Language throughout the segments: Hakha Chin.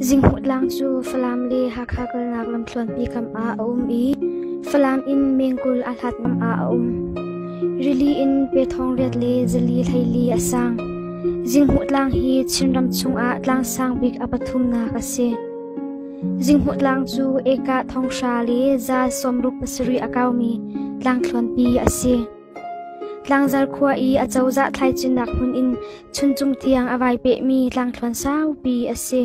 Zinghmuh tlang cu Falam le Hakha kalnak lamthluanpi kam ah a um i Falam in mengkul aa hlat ngam ah a um. Rili in pe thong riat le zali hleili a sang. Zinghmuh tlang hi Chinram chungah tlang sang bik a pathumnak a si. Zinghmuh tlang cu Eka thonghra le za sawmruk pasarih a kaumi tlangthluanpi a si. Tlangzar khua i a cozah thlaicunnak hmun in chuncung tiang a vai pehmi tlangthluan saupi a si.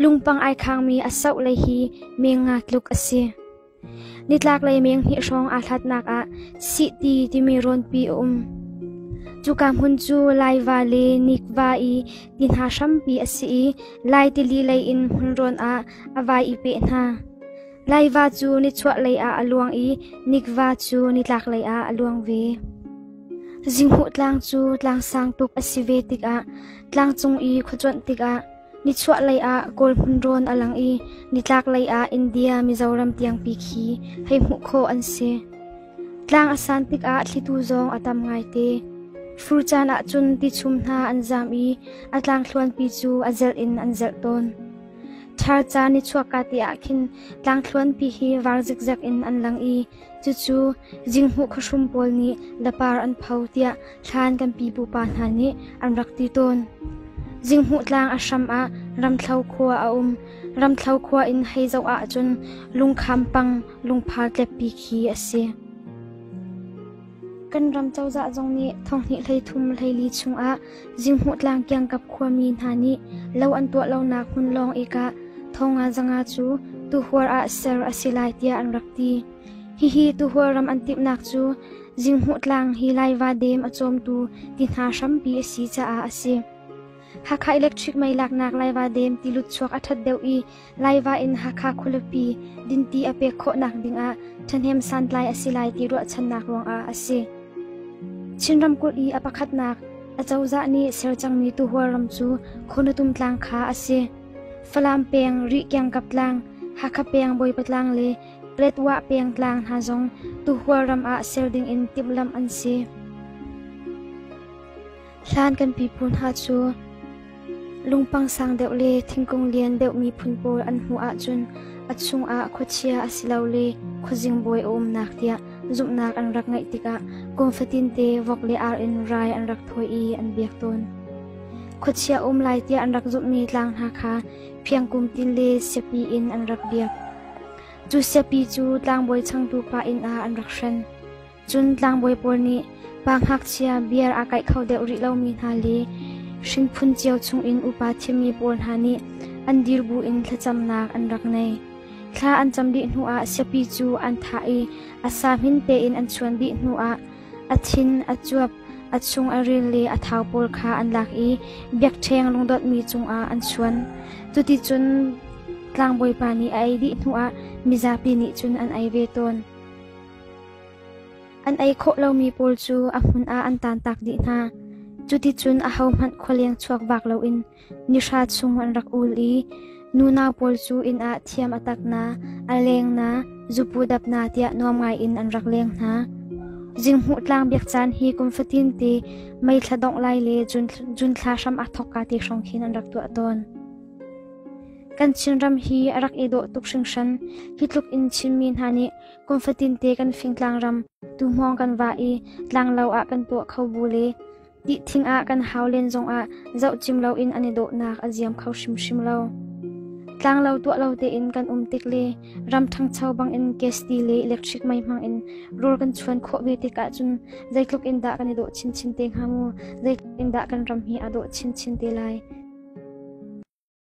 Lungpang ai khangmi a soh lei hi meng nga tluk a si. Nitlaklei meng hnih hrawng aa hlatnak ah Sihti timi rawnpi a um. Cuka hmun cu laiva le nikva i ti hna hrampi a si i lai tili lei in hmun rawn ah a vai i peh hna. Leiva cu nichuahlei ah a luang i nikva cu nitlaklei ah a luang ve. Zinghmuh tlang cu tlang sang tuk a si ve tikah tlangcung i khuacuanh tikah nichuahlei ah kawl hmun rawn a lang i nitlaklei ah India Mizoram tiangpi khi hei hmuh khawh an si. Tlang a san tikah thlitu zong a tam ngaite. Fur caan ahcun tichum hna an zam i a tlangthluanpi cu a zelh in an zelh tawn. Thar ca nichuahka te ah khin tlangthluanpi hi var zikzek in an lang i cucu zinghmuh khuahrum pawl nih lapar an pho tiah thlan kan pipu pa hna nih an rak ti tawn. Zinghmuh tlang a hram ah Ramthlo khua a um. Ramthlo khua in hei zoh ahcun lungkham pang lungphar tleppi khi a si. Kan ram cozah zong nih thonghnih hleithum hleili chungah Zinghmuh tlang kiangkap khuami hna nih lo an tuah lonak hmun lawng ik ah thonga zanga cu tuhuar ah ser a si lai tiah an rak ti. Hihi tuhuar ram an timhnak cu Zinghmuh tlang hi laiva dam a cawmtu ti hna hrampi a si caah a si. Hakha electric mei laknak laiva dam ti lut chuak a ṭhat deuh i Laiva in Hakha khualipi dinti a pek khawhnak dingah ṭhahnem santlai a si lai ti ruahchannak ruangah a si. Chin ramkulh i a pakhatnak acozah nih ser cangmi tuhual ram cu Khurnatum tlang kha a si. Falam peng, Rih kiangkap tlang, Hakha peng Bawipa tlang le Retwa peng tlang hna zong tuhual ram ah ser dingin timhlamh an si. Hlan kan pipu hna cu lungpang sang deuh le thingkung lian deuhmi phun pawl an hmuh ahcun a chungah khuachia a si lo le khuazing bawi a umnak tiah zumhnak an rak ngeih tikah kum fatinte vok le ar in rai an rak thawi i an biak tawn. Khuachia um lai tiah an rak zumhmi tlang hna kha phiangkum tin le siapi in an rak biak. Cu siapi cu tlangbawi changtu pa inn ah an rak hren. Cun tlangbawi pawl nih pa ngakchia biar aa kaih kho deuh rih lomi hna le hrinphun cio chungin upa thiammi pawl hna nih an dir buin thlacamnak an rak ngei. Thla an cam dih hnuah siapi cu an thah i a sa hmin tein an chuan dih hnuah a thin, a cuap, a chung a ril le a thau pawl kha an lak i biakṭheng lungdotmi cungah an chuan. Cuticun tlangbawipa nih a ei dih hnuah mizapi nih cun an ei ve tawn. An ei khawh lomi pawl cu a hmun ah an tantak dih hna. Cuticun ahohmanh khualeng chuak vak loin nihra chung an rak ul i nunau pawl cu inn ah thiam a tak na, a leng na, zupu dap na tiah nuam ngaiin an rak leng hna. Zinghmuh tlang biak caan hi kum fatin te mei thla dongh lai le jun thla hram a thawk ka te hrawng khin an rak tuah tawn. Kan Chinram hi a rak i dawh tuk hringhran. Hi tluk in Chinmi hna nih Kum fatinte kan fing tlangram, tuhmawng kan va i tlanglo ah kan tuah kho bu le dih thing ah kan hau len zongah zoh cim loin an i dawhnak a ziam kho hrimhrim lo. Tlanglo tuah lo tein kan um tik le ram ṭhangcho bangin gesti le electric mai hmang in rul kan chuan khawh ve tik ahcun zeitluk in dah kan i dawh chinchin te hnga mu, zeitluk in dah kan ram hi a dawh chinchin te lai.